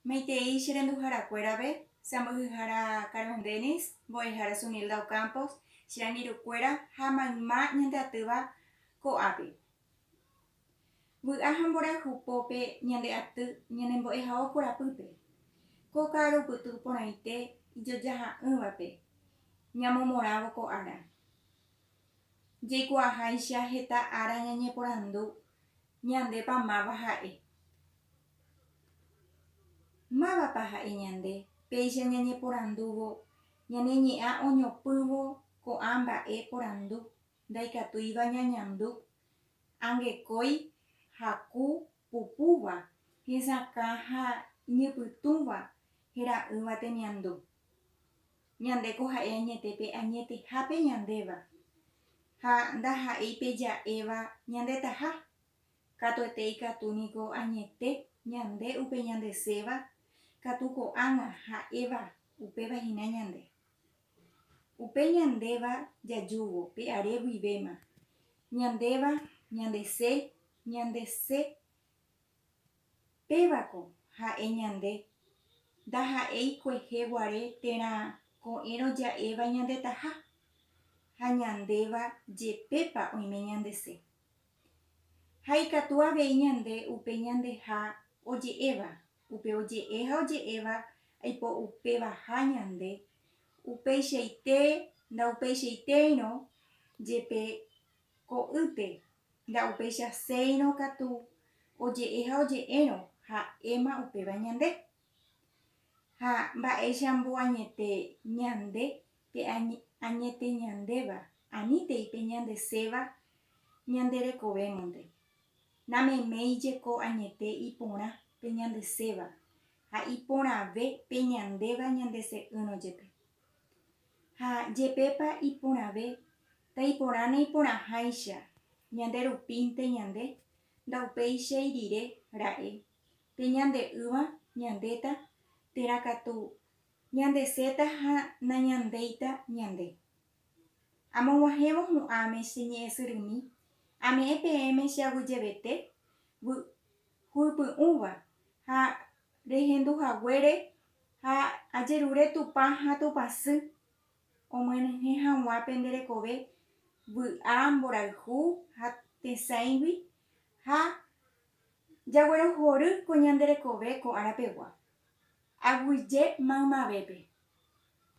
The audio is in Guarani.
Maitei che renduharakuérape, che amboyhára Carmen Denis, mbo'ehára Zunilda Ocampos, che angirũkuéra ha mayma ñande atýva ko'ápe. Vy'a ha mborayhu pópe ñande aty ñane mbo'ehao korapýpe. Ko ka'arupytũ porãite ijojaha'ỹvape ñamomorãvo ko ára. Jaikuaaháicha heta ára ñañeporandu Ñandépa máva ha'e? Mávapa ha'e ñande? Péicha ñañeporandúvo ñane ñe'ã oñopỹvo ko'ã mba'e porandu, ndaikatúiva ñañandu. Angekói haku pupúva, hesakã ha iñypytũva hera'ỹva temiandu. Ñande ko ha'e añete pe añetehápe ñandéva, ha ndaha'éi pe ja'éva ñandetaha. Katuete ikatu niko añete ñande upe ñandeséva katu ko'ág̃a ha'éva upéva hína ñande. Upe ñandéva jajúvo pe are guivéma, ñandéva ñandese, ñandese. Pévako ha'e ñande, ndaha'éi kuehe guare térã ko'ẽrõ ja'éva ñandetaha, ha ñandéva jepépa oime ñandese. Ha ikatu avei ñande upe ñandeha oje'éva, upe oje'e ha oje'éva aipo upévaha ñande, upeichaite ndaupeichaitéirõ jepe Ko'ýte, nda'upeichaséirõ katu oje'e ha oje'érõ ha'éma upéva ñande. Ha mba'éichambo añete ñande pe añete ñandéva, anítei pe ñandeséva ñande rekovémonte. Nameméi jeko añete iporã pe ñandeséva ha iporãve pe ñandéva ñandese'ỹrõ jepe. Ha jepépa iporãve, taiporãne iporãháicha, ñande rupínte ñande, ndaupéichai rire ra'e, pe ñande ýva ñandéta térã katu ñandeséta ha nañandéita ñande. Amog̃uahẽvo hu'ãme che ñe'ẽsyrymi, ame'ẽ peẽme che aguyjevete, vy'u py'ũva ha rehendu haguére ha ajerure Tupã ha Tupã sy omyenyhẽ hag̃ua pende rekove vy'a mborayhu ha tesãigui ha jaguerohory ko ñande rekove ko ára pegua. Aguyje maymavépe.